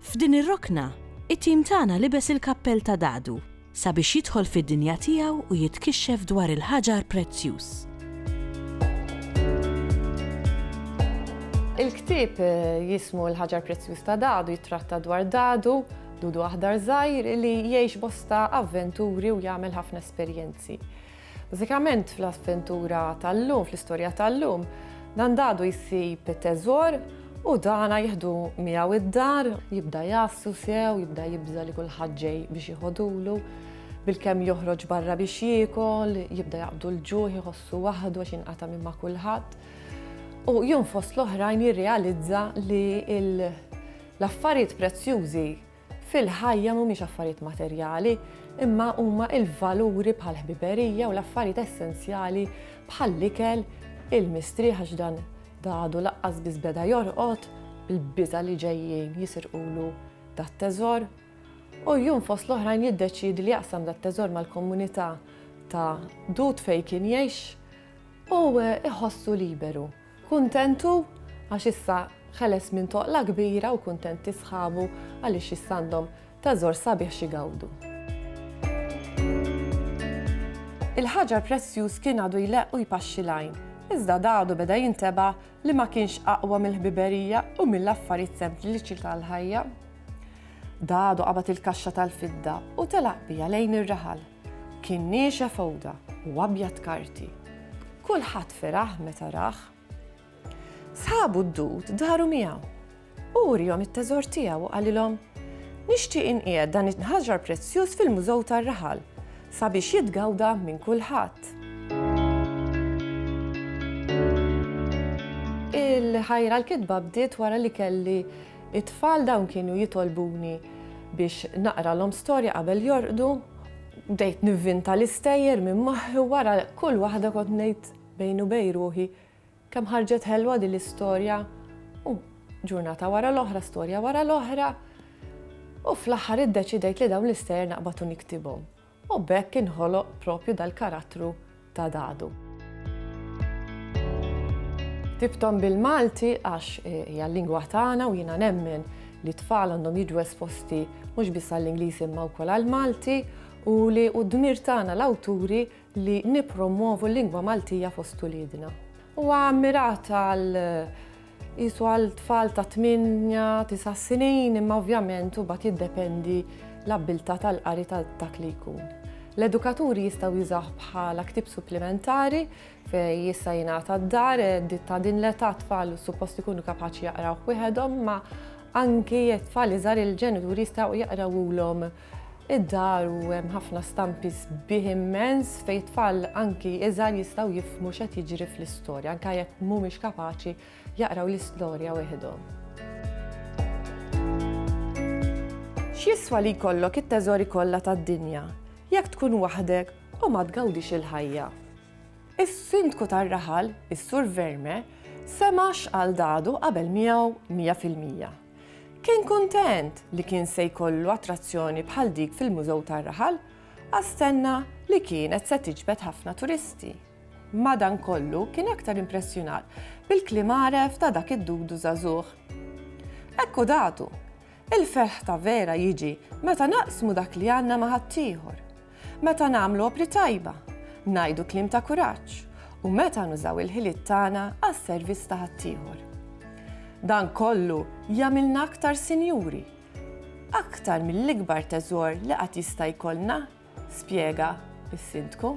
F'din ir-rokna, it-tim tagħna libes il-kappell ta' dadu sabiex jidħol fid-dinja tiegħu u jitkixxef dwar il-ħaġar prezzjuż. Il-ktieb jismu l-ħaġar prezzjuż ta' dadu jittratta dwar dadu, dudu aħdar żgħir li jgħix bosta avventuri u jagħmel ħafna esperjenzi. Bażikament fl-avventura tal-lum, fl-istorja tal-lum, dan dadu jsib it-teżor u dana jieħdu miegħu id-dar, jibda jgħassu sew, jibda jibża' li kulħadd ġej biex jieħodulu, bilkemm joħroġ barra biex jiekol, jibda jaqbdu l-ġuħ, iħossu waħdu għax jinqata' minn ma' kulħadd. U jum fost l-oħrajn jirrealizza li l-affarijiet prezzjużi fil-ħajja mhumiex affarijiet materjali, imma huma l-valuri bħall-ħbiberija u l-affarijiet essenzjali bħall-ikel, il-mistrieħ għax dan dadu laqqas biss beda jorqod, il-biża li ġejjin jisirqulu dat-teżor. U jum fost l-oħrajn jiddeċidi li jaqsam dat-teżor mal-komunità ta' dud fejn kien jgħix u iħossu liberu. Kuntent hu għax issa ħeles minn toqla kbira u kuntenti sħabu għaliex issa għandhom teżor sabiħ x'igawdu. Il-ħaġar prezzjuż kien għadu jleqq u jpaxxi l-għajn, iżda da għadu beda jintebgħa li ma kienx aqwa mill-ħbiberija u mill-affarijiet sempliċi tal-ħajja. Da għadu qabad il-kaxxa tal-fidda u telaq biha lejn ir-raħal. Kien niexef għoda u abjad karti. Kulħadd feraħ meta rah. Sħabu d-dud daru miegħu. Hu wriehom it-teżor tiegħu u qalilhom, Nixtieq inqiegħed dan it-nħaġar prezzjuż fil-mużew tar-raħal sabiex jitgawda minn kulħadd. Il-ħajra l-kitba bdiet wara li kelli It-tfal dawn kienu jitolbuni biex naqralhom storja qabel jorqdu. Bdejt nivvinta l-istejjer minn moħħi u wara kull waħda kont ngħid bejni u bejn ruħi, kemm ħarġet ħelwa din l-istorja. U ġurnata wara l-oħra, storja wara l-oħra. U fl-aħħar iddeċidejt li dawn l-istejjer naqbad u niktibhom. u b'hekk inħoloq proprju dal-karattru ta' Dadu. Ktibthom bil-Malti għax hija l-lingwa tagħna u jiena nemmen li t-tfal għandhom jiġu esposti mhux biss għall-Ingliż imma wkoll għall-Malti u li hu d-dmir tagħna l-awturi li nippromwovu l-lingwa Maltija fost uliedna. Huwa mmirat għal Qisu għal tfal ta' 8-9 snin imma ovvjament u bat jiddependi l-abbiltà tal-qari ta' dak li jkun. L-edukaturi jistgħu jużaw bħala ktib supplimentari fej jista' jingħata d-dar eh, ta' din l-età tfal suppost ikunu kapaċi jaqraw wieħedhom ma anki tfal iżgħar il-ġenituri jistgħu jaqrawulhom Id-dar u hemm ħafna stampi sbieħ immens fejn tfal anki iżgħar jistgħu jifhmu x'qed jiġri fl-istorja anke jekk mhumiex kapaċi jaqraw l-istorja weħidhom. X'jiswa li jkollok it-teżori kollha tad-dinja jekk tkun waħdek u ma tgawdix il-ħajja? Is-Sindku tar-Raħal, is-Sur Verme, sema' x'qal dadu qabel miegħu mija fil-mija. Kien kuntent li kien se jkollu attrazzjoni bħal dik fil-Mużew tar-Raħal għax stenna li kienet se tiġbed ħafna turisti. Madankollu kien aktar impressjonat bil-kliem għaref ta' dak id-dudu żagħżugħ. Hekk hu datu! Il-ferħ ta' vera jiġi meta naqsmu dak li għandna ma' ħaddieħor. Meta nagħmlu opri tajba, ngħidu kliem ta' kuraġġ u meta nużaw il-ħiliet tagħna għas-servizz ta' ħaddieħor. Dan kollu jagħmilna aktar sinjuri, aktar mill-ikbar teżor li qatt jista' jkollna, spjega s-Sindku.